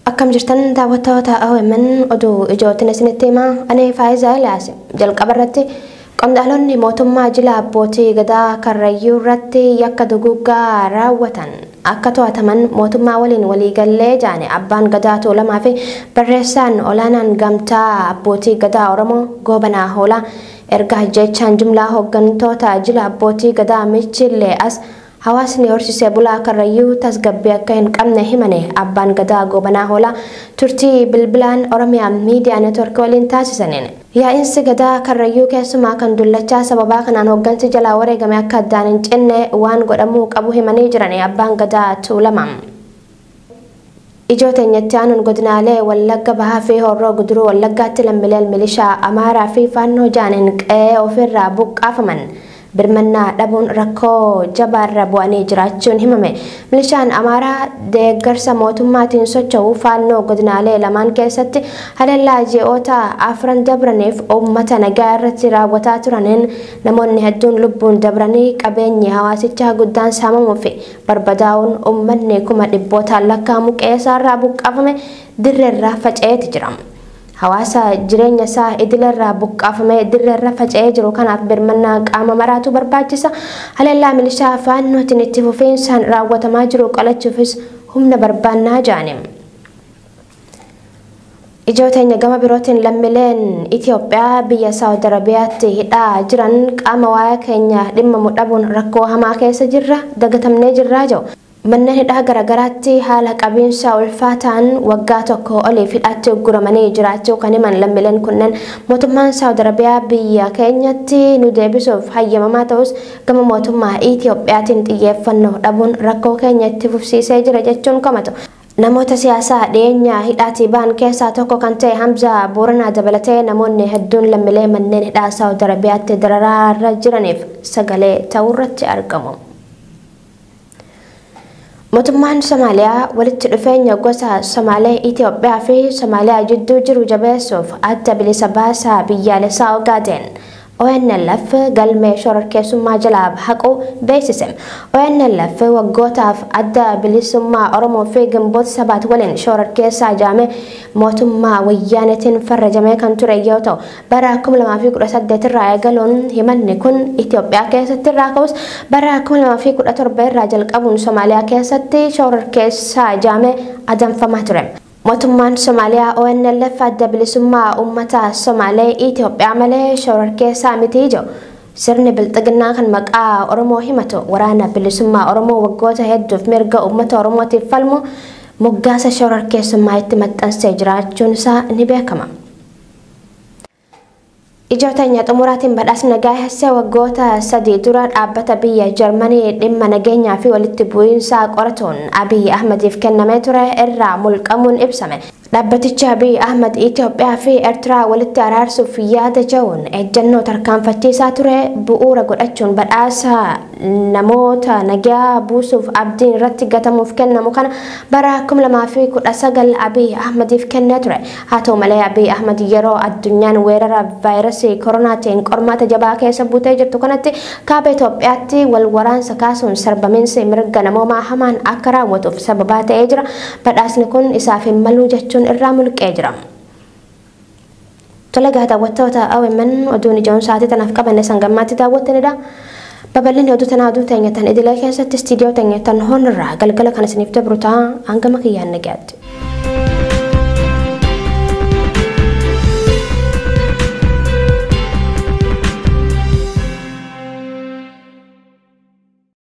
Akkam jirtan daawwattoota OMN oduu ijootiin isinitti himaa ani Faayiza Eliyaas jalqaba irratti qondaalonni mootummaa jila abbootii gadaa Karrayyuu irratti yakka duguuggaa raawwatan akka to'ataman mootummaa waliin waliigalle jaane Abbaan Gadaa Tuulamaa fi Barreessaan Olaanaan Gamtaa Abbootii Gadaa Oromoo Goobanaa Hoolaa erga ajjeechaan jumlaa hooggantoota jila Abbootii Gadaa Michiillee as hawaasni horsiisee bulaa Karrayyuu tasgabbii akka hin qabne himane Abbaan Gadaa Goobanaa Hoolaa turtii bilbilaan Oromia Media Network waliin taasisaniin. Yaa'insi Gadaa Karrayyuu keessumaa kan Dullachaa sababaa kanaan hoggansi jalaa wareegame akka addaan hin cinne waan godhamuu qabu himanii jirani Abbaan Gadaa Tuulama. Ijoo teenya itti aanuun godinaalee Wallagga Bahaa fi Horroo Guduruu Wallaggaatti lammileen milishaa Amaaraa fi Faannoo ja'aniin qe'ee ofiirraa buqqaafaman Birmannaa dhabuun rakkoo jabaarra bu'anii jiraachuun himame. Milishaan Amaaraa deeggarsa mootummaatiin socho'u Faannoo godinaalee lamaan keessatti haleellaa ji'oota afran dabraniif uummata nagaa irratti raawwataa turaniin namoonni hedduun lubbuun dabranii qabeenyi hawaasichaa guddaan saamamuu fi barbadaa'uun uummanni kuma dhibbootaan lakkaa'amu qe'eesaarraa buqqaafame dirreerra faca'eeti jira. Hawaasa jireenya isaa idileerraa buqqaafamee dirreerra faca'ee jiru kanaaf birmannaa qaama maraatu barbaachisa. Haleellaa milishaa Faannootiin itti fufiinsaan raawwatamaa jiru qolachuufis humna barbaanna jedhani. Ijoo teenya gama birootiin lammileen Itoophiyaa biyya Saawud Arabiyaatti hidhaa jiran qaama waa'ee keenya dhimmamu dhabuun rakkoo hamaa keessa jirra, dagatamnee jirraa jedhu. Manna hidhaa garagaraatti haala qabiinsa ulfaataan waggaa tokkoo oliif hidhaatti ugguramanii jiraachuu kan himan lammileen kunneen, mootummaan Saawud Arabiyaa biyya keenyatti nu deebisuuf hayyamamaa ta'us gama mootummaa Itiyoophiyaatiin xiyyeeffannoo dhabuun rakkoo keenya itti fufsiisee jira jechuun komatu. Namoota siyaasaa dhiyeenya hidhaatii ba'an keessaa tokko kan ta'e Hamzaa Booranaa dabalatee namoonni hedduun lammilee manneen hidhaa Saawud Arabiyaatti dararaarra jiraniif sagalee ta'uurratti argamu. Mootummaan Somaaliyaa walitti dhufeenya gosa Somaalee Itoophiyaa fi Somaaliyaa jidduu jiru jabeessuuf adda bilisa baasaa biyyaalessaa Ogaadeen ONLF galmee shororkeessummaa jalaa haquu beeksise. ONLF waggootaaf adda bilisummaa Oromoo fi Gimboot Sabaat waliin shororkeessaa jedhamee mootummaa Wayyaaneetiin farrajamee kan ture yoo ta'u, Bara 2018 irraa eegaluun himanni kun Itoophiyaa keessatti irraa ka'us bara 2017 irraa jalqabuun Somaaliyaa keessatti shororkeessaa ijaamee adamfamaa ture. Mootummaan Somaaliyaa ONLF adda bilisummaa uummata Somaalee Itoophiyaa malee shororkeessaa miti jedhu. Sirni bilxiginnaa kan maqaa Oromoo himatu waraana bilisummaa Oromoo waggoota hedduuf mirga uummata Oromootiif falmu moggaasa shororkeessummaa itti maxxansee jiraachuun isaa ni beekama. Ijoo teenya xumuraatiin badhaasna gaahessa waggoota sadii dura dhaabbata biyya Jarmanii dhimma nageenyaa fi walitti bu'iinsaa qoratuun Abiy Ahmadiif kennamee ture irraa mulqamuun ibsame. Dhaabbatichi Abiy Ahmad Itoophiyaa fi Ertiraa walitti araarsuuf yaada ja'uun ejjennoo tarkaanfachiisaa ture bu'uura godhachuun badhaasa namoota nagaa buusuuf abdiin irratti gatamuuf kennamu kana bara 2019 Abiy Ahmadiif kennee ture. Haa ta'u malee Abiy Ahmad yeroo addunyaan weerara vaayirasii koronaatiin qormaata jabaa keessa buutee jirtu kanatti kaaba Itoophiyaatti wal waraansa kaasuun sarbamiinsi mirga namoomaa hamaan akka raawwatuuf sababaa ta'ee jira. Badhaasni kun isaaf hin maluu jechuun irraa mulqee jira. Tolegaa daawwattoota OMN oduun ijoon sa'aatii tanaaf qabanne sangammaatti daawwattanidha. Babal'inni oduu tanaa oduu teenya tan idilee keessatti istiidiyoo teenya tan hoon irraa galgala kan isiniif dabru ta'a hangama kiyyaan nagaatti.